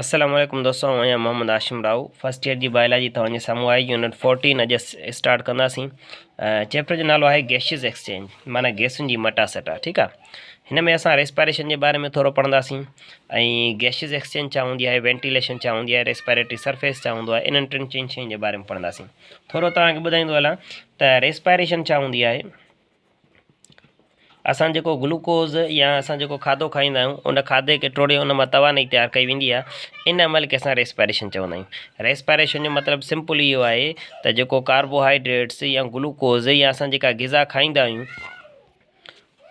السلام عليڪم دوستو آئون آهيان محمد هاشم راهو فرسٽ ايئر جي بائلاجي توهان جي سامهون آهي يونٽ فورٽين اڄ اسٽارٽ ڪنداسين چيپٽر جو نالو آهي گيشز ايڪسچينج معنی گيسن جي مٽا سٽا ٺيڪ آهي هن ۾ اسان ريسپائريشن جي باري ۾ ٿورو پڙهنداسين ۽ گيشز ايڪسچينج ڇا هوندي آهي وينٽيليشن ڇا هوندي آهي ريسپائريٽري سرفيس ڇا هوندو آهي انهن ٽن چئن شين جي باري ۾ پڙهنداسين ٿورو توهان کي ٻڌائيندو هلان ته ريسپائريشن ڇا هوندي آهي اسان جيڪو گلوڪوز يا اسان جيڪو کاڌو کائيندا آهيون ان کاڌي کي ٽوڙي ان مان توانائي تيار ڪئي ويندي آهي ان عمل کي اسان ريسپائريشن چوندا آهيون ريسپائريشن جو مطلب سمپل اهو آهي ته جيڪو ڪاربوهائيڊريٽس يا گلوڪوز يا اسان جيڪا غذا کائيندا آهيون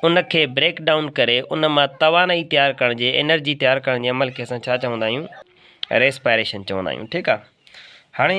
ان کي بريڪ ڊائون ڪري ان مان توانائي تيار ڪرڻ جي انرجي تيار ڪرڻ جي عمل کي اسان ڇا چوندا آهيون ريسپائريشن چوندا آهيون ٺيڪ آهي هاڻي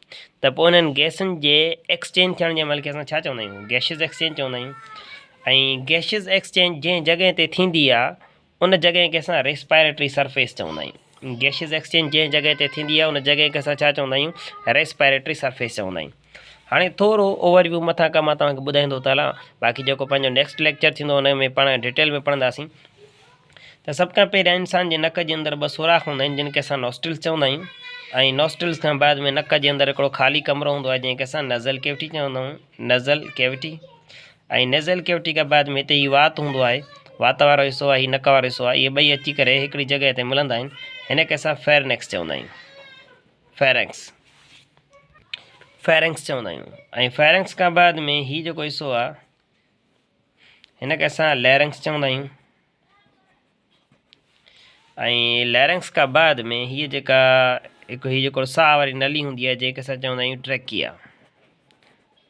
ته پوء انهن گئسن جي ايڪسچينج ٿيڻ جي عمل کي اسان ڇا چوندا آهيون؟ گئشز ايڪسچينج چوندا آهيون ۽ گئشز ايڪسچينج جنهن جڳهه تي ٿيندي آهي ان جڳهه کي اسان ريسپائريٽري سرفيس چوندا آهيون. گئشز ايڪسچينج جنهن جڳهه تي ٿيندي آهي ان جڳهه کي اسان ڇا چوندا آهيون؟ ريسپائريٽري سرفيس چوندا آهيون. هاڻي ٿورو اوور ويو مٿان کان مان توهان کي ٻڌائيندو ٿو هلان باقي جيڪو پنهنجو نيڪسٽ ليڪچر ٿيندو ان ۾ پاڻ ڊٽيل ۾ پڙهنداسين. ته سڀ کان پهريان انسان جي نڪ جي اندر ٻه سوراخ هوندا آهن جن کي اسان نوسٽرلز چوندا آهيون ۽ نوسٽرلز کان بعد ۾ نڪ جي اندر هڪڙو خالي ڪمرو هوندو آهي جنهن کي اسان نزل ڪيوٽي چوندا آهيون نزل ڪيوٽي ۽ نزل ڪيوٽي کان بعد ۾ هتي هي وات هوندو آهي وات وارو حصو آهي هي نڪ وارو حصو آهي اهي ٻئي اچي ڪري هڪڙي جڳهه تي ملندا آهن هن کي اسان فيرنڪس چوندا آهيون فيرنڪس فيرنڪس چوندا آهيون ۽ فيرنڪس کان بعد ۾ هي جيڪو حصو آهي هن کي اسان ليرنگس چوندا آهيون ۽ ليرنگس کا بعد ۾ هي جيڪا هڪ هي جيڪو ساهه واري نلي هوندي آهي جنهن کي اسان چوندا آهيون ٽريڪيا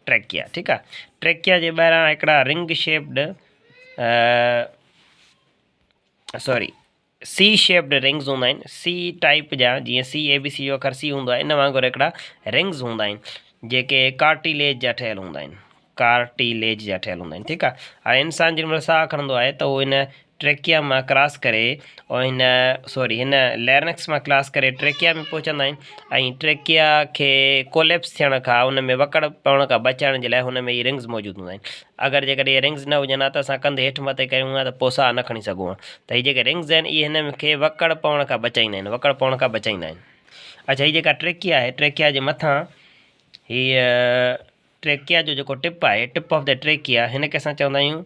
ٽريڪيا ٺيڪ آهي ٽريڪيا جي ٻاهران هڪڙا ring shaped sorry C shaped rings هوندا آهن، سي ٽائيپ جا، جيئن سي اي بي سي جو اکر سي هوندو آهي، ان وانگر هڪڙا رنگز هوندا آهن، جيڪي ڪارٽيليج جا ٺهيل هوندا آهن، Cartilage، جا ٺهيل هوندا آهن، ٺيڪ آهي، هاڻي انسان جنهن مهل ساهه کڻندو آهي ته هو هن ٽريڪيا مان ڪراس ڪري او هن سوري هن ليرنڪس مان ڪلاس ڪري ٽريڪيا ۾ پهچندا آهن ۽ ٽريڪيا کي ڪوليپس ٿيڻ کان ان ۾ وڪڙ پوڻ کان بچائڻ جي لاء هن ۾ هي رنگز موجود هوندا آهن اگر جيڪڏهن اهي رنگز نه هجن ها ته اسان ڪنڌ هيٺ مٿي ڪيون ها ته پوء ساهه نه کڻي سگهون ها ته هي جيڪي رنگز آهن اهي هن کي وڪڙ پوڻ کان بچائيندا آهن وڪڙ پوڻ کان بچائيندا آهن اڇا هي جيڪا ٽريڪيا آهي ٽريڪيا جي مٿان هي ٽريڪيا جو جيڪو ٽپ آهي ٽپ آف دا ٽريڪيا هن کي اسان چوندا آهيون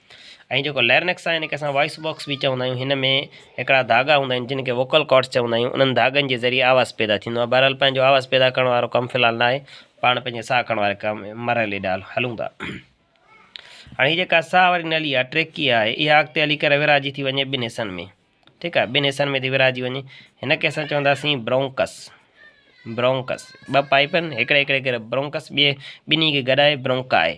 ۽ جيڪو ليرنڪس آهي ان کي اسان وائس باڪس به چوندا آهيون هن ۾ هڪڙا ڌاڳا هوندا آهن جن کي ووڪل ڪارڊس چوندا آهيون انهن ڌاڳن جي ذريعي آواز پيدا ٿيندو آهي بهرحال پنهنجو آواز پيدا ڪرڻ وارو ڪم في الحال نه آهي پاڻ پنهنجي ساهه کڻڻ واري ڪم مرحلي ڏانهن هلون ٿا هاڻي هي جيڪا ساهه واري نلي آهي ٽريڪي آهي اها اڳتي هلي ڪري ورهاجي ٿي وڃي ٻن حصن ۾ ٺيڪ آهي ٻن حصن ۾ ٿي ورهاجي وڃي هن کي اسان چونداسين برونڪس برونڪس ٻه پائپ آهن هڪڙي هڪڙي ڪري برونڪس ٻئي ٻنهي کي گڏائي برونڪا آهي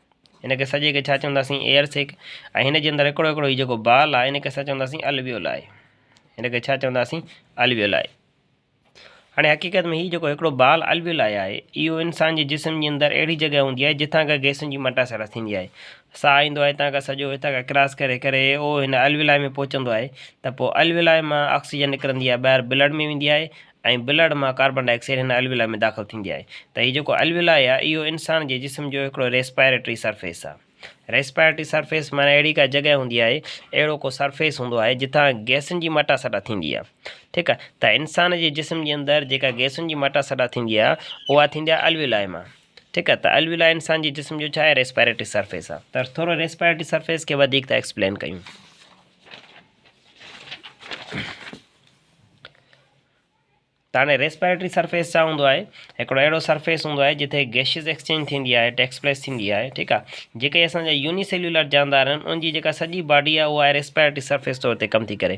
هن کي سڄي کي ڇا چونداسين ايئر سيڪ ۽ هن جي اندر هڪڙو هڪڙو هي جيڪو بال آهي هن کي اسان چونداسين الويولائي هن کي ڇا چونداسين الويولائي هاڻي حقيقت ۾ هي جيڪو هڪڙو بال الويل آيا آهي اهو انسان جي جسم جي اندر اهڙي جڳهه هوندي آهي جتان کان گيسن جي مٽا سڙا ٿيندي آهي ساهه ايندو آهي هتان کان سڄو هتان کان ڪراس ڪري ڪري اهو هن الويلائي ۾ پهچندو آهي ته پوء الويلائي مان آڪسيجن نڪرندي آهي ٻاهر بلڊ ۾ ويندي آهي ۽ بلعرض مان ڪاربان ڊاء آڪسائيڊ هن الويلا ۾ داخل ٿيندي آهي ته هي جيڪو الويلا آهي اهو انسان جي جسم جو هڪڙو ريسپائريٽري سرفيس آهي. ريسپائريٽري سرفيس معنيٰ اهڙي ڪا جڳهه هوندي آهي، اهڙو ڪو سرفيس هوندو آهي جتان گئسن جي مٽا سٽا ٿيندي آهي ٺيڪ آهي ته انسان جي جسم جي اندر جيڪا گئسن جي مٽا سٽا ٿيندي آهي اها ٿيندي آهي الويلا مان ٺيڪ آهي ته الويلا انسان جي جسم جو ڇا آهي ريسپائريٽري سرفيس آهي ته ٿورو ريسپائريٽري سرفيس کي وڌيڪ ٿا ايڪسپلين ڪيون. تاني ريسپيريٽري سرفيس ڇا هوندو آهي هڪڙو اهڙو سرفيس هوندو آهي جتي گيشيز ايڪسچينج ٿيندي آهي ٽيڪس پليس ٿيندي آهي ٺيڪ آهي جيڪي اسان جا يوني سيلولر جاندار آهن ان جي جيڪا سڄي باڊي آهي اها ريسپيريٽري سرفيس طور تي ڪم ٿي ڪري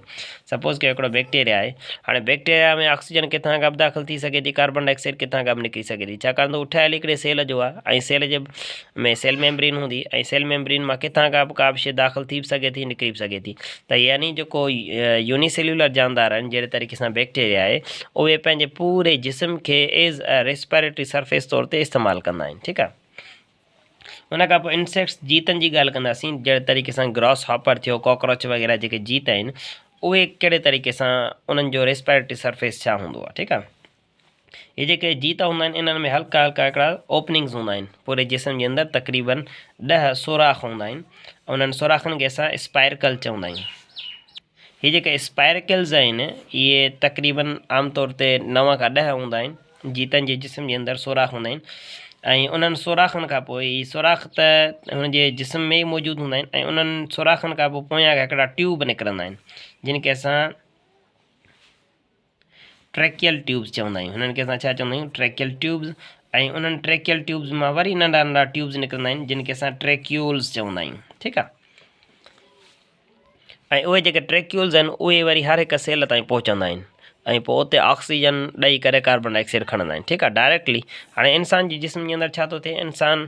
سپوز ڪيو هڪڙو بيڪٽيريا آهي هاڻي بيڪٽيريا ۾ آڪسيجن ڪٿان کان به داخل ٿي سگهي ٿي ڪاربن ڊاء آڪسائيڊ ڪٿان کان به نڪري سگهي ٿي ڇاڪاڻ ته هو ٺهيل هڪڙي سيل جو آهي ۽ سيل جي ۾ سيل ميمبرين هوندي ۽ سيل ميمبرين مان ڪٿان کان به ڪا به شيء داخل ٿي به سگهي ٿي نڪري به سگهي ٿي ته يعني جيڪو يوني سيلولر جاندار آهن جهڙي طريقي سان بيڪٽيريا آهي اهي پنهنجي پوري جسم کي ايز ا ريسپيريٽري سرفيس طور تي استعمال ڪندا آهن ٺيڪ آهي ان کان پوء انسيڪٽس جيتن جي ڳالهه ڪنداسين جهڙي طريقي سان گراس هاپر ٿيو ڪاڪروچ وغيره جيڪي جيت آهن اهي ڪهڙي طريقي سان انهن جو ريسپيريٽري سرفيس ڇا هوندو آهي ٺيڪ آهي هي جيڪي جيت هوندا آهن انهن ۾ هلڪا هلڪا هڪڙا اوپننگز هوندا آهن پوري جسم جي اندر تقريبن ڏهه سوراخ هوندا آهن انهن سوراخن کي اسان اسپائرڪل چوندا آهيون هي جيڪي اسپائرڪلز آهن اهي تقريبن عام طور تي نو کان ڏهه هوندا آهن جيتن جي جسم جي اندر سوراخ هوندا آهن ۽ انهن سوراخن کان پوء هي سوراخ ته هن جي جسم ۾ موجود هوندا آهن ۽ انهن سوراخن کان پوء پويان هڪڙا ٽيوب نڪرندا آهن جن کي اسان ٽريڪيل ٽيوبز چوندا آهيون هنن کي اسان ڇا چوندا آهيون ٽريڪيل ٽيوبز ۽ انهن ٽريڪيل ٽيوبز مان وري ننڍا ننڍا ٽيوبز نڪرندا آهن جن کي اسان ٽريڪيولز چوندا آهيون ٺيڪ آهي ۽ اهي جيڪي ٽريڪيولز آهن اهي وري هر هڪ سيل تائين پهچندا آهن ۽ پوء اتي آڪسيجن ڏئي ڪري ڪاربن ڊاء آڪسائيڊ کڻندا آهن ٺيڪ آهي ڊائريڪٽلي هاڻي انسان جي جسم جي اندر ڇا ٿو ٿئي انسان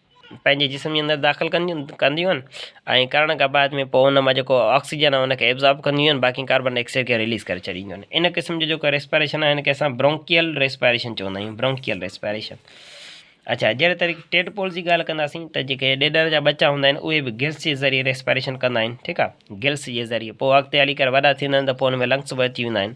پنهنجي جسم جي اندر داخل ڪنديون ڪنديون آهن ۽ ڪرڻ کان بعد ۾ پوء ان مان جيڪو آڪسيجن آهي ان کي ابزارب ڪنديون آهن باقي ڪاربن ڊاء آڪسائيڊ کي رليز ڪري ڇڏينديون آهن ان قسم جو جيڪو ريسپريشن آهي ان کي اسان برونڪيل ريسپريشن چوندا آهيون برونڪيل ريسپريشن اڇا جهڙي طريقي ٽيڊپول جي ڳالهه ڪنداسين ته جيڪي ڏيڏر جا ٻچا هوندا آهن اهي به گلس جي ذريعي ريسپريشن ڪندا آهن ٺيڪ آهي گلس جي ذريعي پوء اڳتي هلي ڪري وڏا ٿيندا آهن ته پوء ان ۾ لنگس به اچي ويندا آهن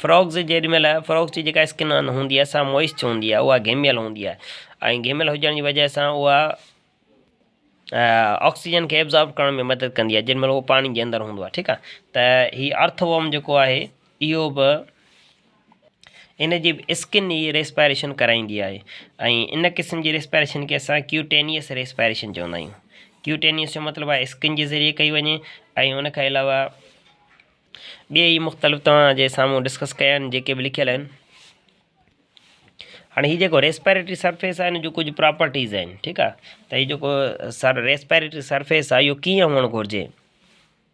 فروڪس جيڏي مھل فروڪس جي جيڪا اسڪن ھوندي آھي سا موئسچ ھوندي آھي اھا گھميل ھوندي آھي ۽ گھميل ھجڻ جي وجھ سان اھا آڪسيجن کي ابزارب ڪرڻ ۾ مدد ڪندي آھي جيڏي مھل اھو پاڻي جي اندر ھوندو آھي ٺيڪ آھي ته ھي ارٿ ووم جيڪو آھي اھو بھ ان جي به اسڪن ئي ريسپائريشن ڪرائيندي آهي ۽ ان قسم جي ريسپائريشن کي اسان ڪيوٽينيئس ريسپائريشن چوندا آهيون. ڪيوٽينيئس جو مطلب آهي اسڪن جي ذريعي ڪئي وڃي ۽ ان کان علاوه ٻيئي ئي مختلف توهان جي سامهون ڊسڪس ڪيا آهن جيڪي به لکيل آهن. هاڻي هي جيڪو ريسپائريٽري سرفيس آهي ان جون ڪجهه پراپرٽيز آهن ٺيڪ آهي ته هي جيڪو ريسپائريٽري سرفيس آهي اهو ڪيئن هئڻ گهرجي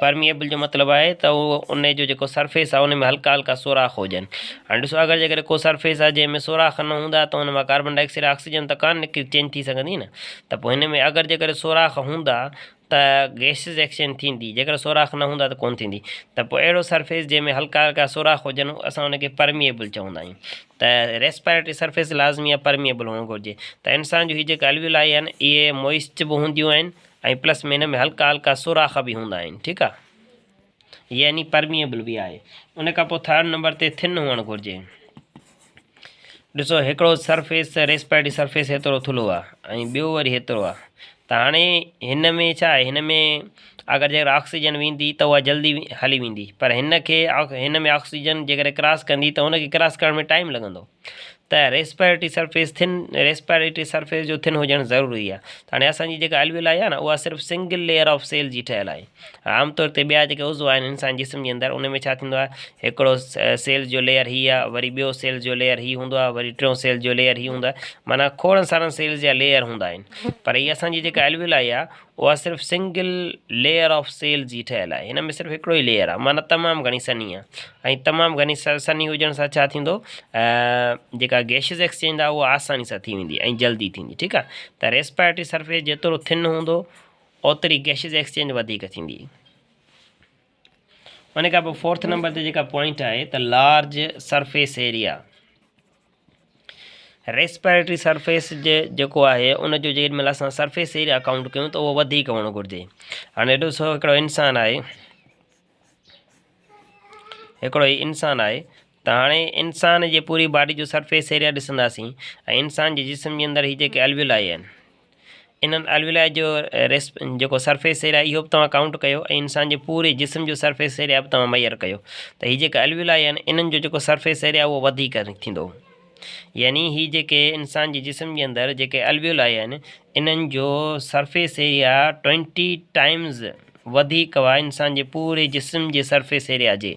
پرميئبل جو مطلب آهي ته ان جو جيڪو سرفيس آهي ان ۾ هلڪا هلڪا سوراخ هجن هاڻي ڏسو اگر جيڪڏهن ڪو سرفيس آهي جنهن ۾ سوراخ نه هوندا ته ان مان ڪاربن ڊاء آڪسائيڊ آڪسيجن ته ڪانه نڪري چينج ٿي سگهندي نه ته پوء هن ۾ اگر جيڪڏهن سوراخ هوندا ته گئسز ايڪسچينج ٿيندي جيڪڏهن سوراخ نه هوندا ته ڪونه ٿيندي ته پوء اهڙو سرفيس جنهن ۾ هلڪا هلڪا سوراخ هجن اسان ان کي پرميئبل چوندا آهيون ته ريسپائريٽري سرفيس لازمي آهي پرميئبل هئڻ گهرجي ته انسان جون هي جيڪي الويلائي آهن اهي موئسٽ به هونديون آهن ۽ پلس ۾ هن ۾ هلڪا هلڪا سوراخ به هوندا آهن ٺيڪ آ يعني پرميبل به آهي ان کان پوء ٿرڊ نمبر تي ٿن هئڻ گهرجي ڏسو هڪڙو سرفيس ريسپائرٽي سرفيس هيترو ٿلهو آ ۽ ٻيو وري هيترو آ ته هاڻي هن ۾ ڇا آهي هن ۾ اگر جيڪر آڪسيجن ويندي ته اها جلدي هلي ويندي پر هن کي هن ۾ آڪسيجن جيڪر ڪراس ڪندي ته هن کي ڪراس ڪرڻ ۾ ٽائيم لڳندو ته respiratory surface thin respiratory surface جو ٿن هجڻ ضروري آهي هاڻي اسان جي جيڪا الويلائي آهي نه اها صرف سنگل ليئر آف سيل جي ٺهيل آهي عام طور تي ٻيا جيڪي عضو آهن انسان جسم جي اندر ان ۾ ڇا ٿيندو آهي هڪڙو سيل جو ليئر هي آهي وري ٻيو سيل جو ليئر هي هوندو آهي وري ٽيون سيل جو ليئر هي هوندو آهي معنيٰ کوڙن سارن سيلز جا ليئر هوندا آهن پر هي اسان جي جيڪا الويلائي آهي اها صرف سنگل ليئر آف سيل جي ٺهيل آهي هن ۾ صرف هڪڙو ئي ليئر آهي معنيٰ تمام گهڻي سنهي آهي ۽ تمام گهڻي سنهي هجڻ سان ڇا ٿيندو جيڪا گيشز ايڪسچينج آهي اها آساني سان ٿي ويندي ۽ جلدي ٿيندي ٺيڪ آهي ته ريسپائرٽري سرفيس جيترو ٿن هوندو اوتري گيشز ايڪسچينج وڌيڪ ٿيندي ان کان پوء فورٿ نمبر تي جيڪا پوائنٽ آهي ته large surface area respiratory surface جي جيڪو آهي ان جو جيڏي مهل اسان سرفيس ايريا اڪائونٹ ڪيون ته اهو وڌيڪ هئڻو گهرجي هاڻي هيڏو سو هڪڙو انسان آهي هڪڙو هي انسان آهي ته هاڻي انسان جي پوري باڊي جو سرفيس ايريا ڏسنداسين ۽ انسان جي جسم جي اندر هي جيڪي الويلائي آهن انهن الويلائي جو جيڪو سرفيس ايريا اهو به توهان ڪائونٽ ڪيو ۽ انسان جي پوري جسم جو سرفيس ايريا به توهان ميئر ڪيو ته هي جيڪي الويلائي آهن انهن جو جيڪو سرفيس ايريا اهو وڌيڪ ٿيندو يعني هي جيڪي انسان جي جسم جي اندر جيڪي الويلائي آهن انهن جو سرفيس ايريا ٽوئنٽي ٽائمز وڌيڪ هئا انسان جي پوري جسم جي سرفيس ايريا جي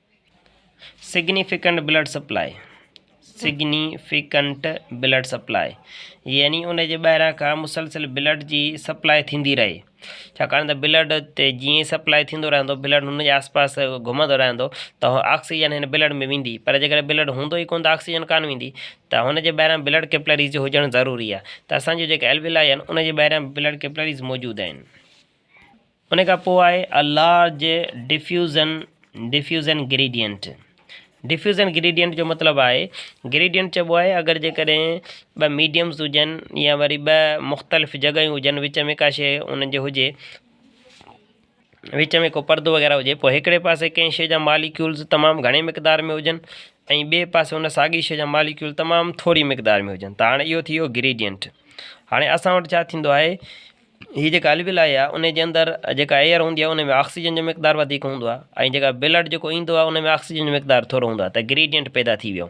significant blood supply, Significant Blood Supply، يعني ان جي ٻاهران کان مسلسل بلڊ جي سپلاء ٿيندي رهي، ڇاڪاڻ ته بلڊ تي جيئن ئي سپلاء ٿيندو رهندو بلڊ ان جي آس پاس گهمندو رهندو ته اهو آڪسيجن هن بلڊ ۾ ويندي پر جيڪڏهن بلڊ هوندو ئي ڪونه ته آڪسيجن ڪانه ويندي ته هن جي ٻاهران بلڊ ڪيپلريز هجڻ ضروري آهي ته اسان جون جيڪي الويلائي آهن ان جي ٻاهران بلڊ ڪيپلريز موجود آهن. ان کان پوء آهي A Large Diffusion Diffusion Gradient Diffusion Gradient جو مطلب آهي Gradient چئبو آهي اگر جيڪڏهن ٻه ميڊيمز هجن يا وري ٻه مختلف جڳهيون هجن وچ ۾ ڪا شيء انهن جي هجي وچ ۾ ڪو پردو وغيره هجي پوء هڪڙي پاسي ڪنهن شيء جا ماليڪيولز تمام گهڻي مقدار ۾ هجن ۽ ٻئي پاسي ان ساڳي شيء جا ماليڪيول تمام ٿوري مقدار ۾ هجن ته هاڻي اهو ٿي ويو Gradient هاڻي اسان وٽ ڇا ٿيندو آهي هي جيڪا الويلائي آهي انهي جي اندر جيڪا ايئر هوندي آهي انهي ۾ آڪسيجن جو مقدار وڌيڪ هوندو آهي ۽ جيڪا بلڊ جيڪو ايندو آهي انهي ۾ آڪسيجن جو مقدار ٿورو هوندو آهي ته گريڊينٽ پيدا ٿي ويو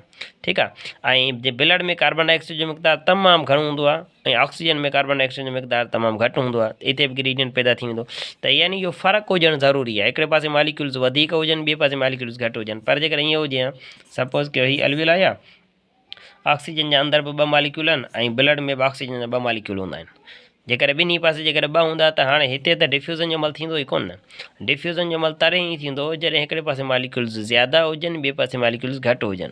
ٺيڪ آهي ۽ جي بلڊ ۾ ڪاربان ڊاء آڪسائيڊ جو مقدار تمام گهڻو هوندو آهي ۽ آڪسيجن ۾ ڪاربان ڊاء آڪسائيڊ جو مقدار تمام گهٽ هوندو آهي اتي به گريڊينٽ پيدا ٿي ويندو ته يعني اهو فرق هجڻ ضروري آهي هڪڙي پاسي ماليڪيولز وڌيڪ هجن ٻي پاسي ماليڪيولز گهٽ هجن پر جيڪڏهن ايئن هجي ها سپوز ڪيو هي الويلائي آهي آڪسيجن جا اندر به ٻه ماليڪيول آهن ۽ بلڊ ۾ به آڪسيجن جا ٻه ماليڪيول هوندا آهن. جيڪڏهن ٻنهي پاسي جيڪڏهن ٻه هوندا ته هاڻي هتي ته ڊفيوزن جو عمل ٿيندو ئي ڪونه. ڊفيوزن جو عمل تڏهن ئي ٿيندو جڏهن هڪڙي پاسي ماليڪيولز زياده هجن ٻئي پاسي ماليڪيولز گهٽ هجن.